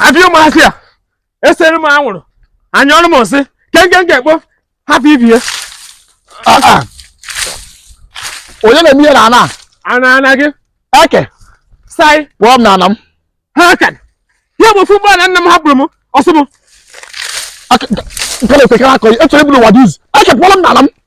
abịa ụmụazị a esere m anwụrụ anyụrụ m nsị nke m ga-ekpo hapụ ibe ya Ah, ah. onye na-eme ihe na ana a? ana ana gị eke Saị kpọọ m na ana m ha ka ya bụ ofu ugbo ana nna m hapụrụ m ọ sọ m Aka- nke na-ekwekara akọ ya echọrọ ibulu ụwa dị izu eke kpọrọ m na ana m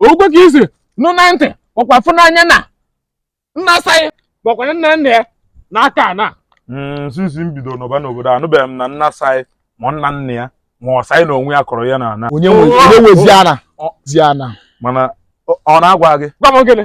o nwe ka i si nụ na ntị ọkwa fụ n'anya na nna Saị ma ọ bụkwanụ nna nna ya na-akọ ana mm, sinsi m bido nọba n'obodo anụbeghị m na nna Saị ma nna nna ya ma ọ Saị na onwe ya kọrọ ya na ana onye nwe onye nwezi ana mana ọ- ọ na-agwa gị gwa m gịnị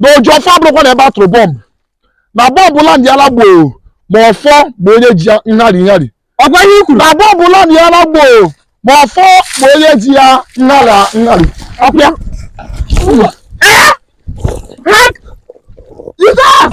na oji ọfọ akwụrụkwana ebe a tụrụ bọmbụ na bọmbụ landị ala gboo ma ọfọ ma onye ji ya nhari nhari ọkwa ihe i kwuru na bọmbụ landị ala gboo ma ọfọ ma onye ji ya nhara nhari ọkwa ya Ee! Ha- Jizọs!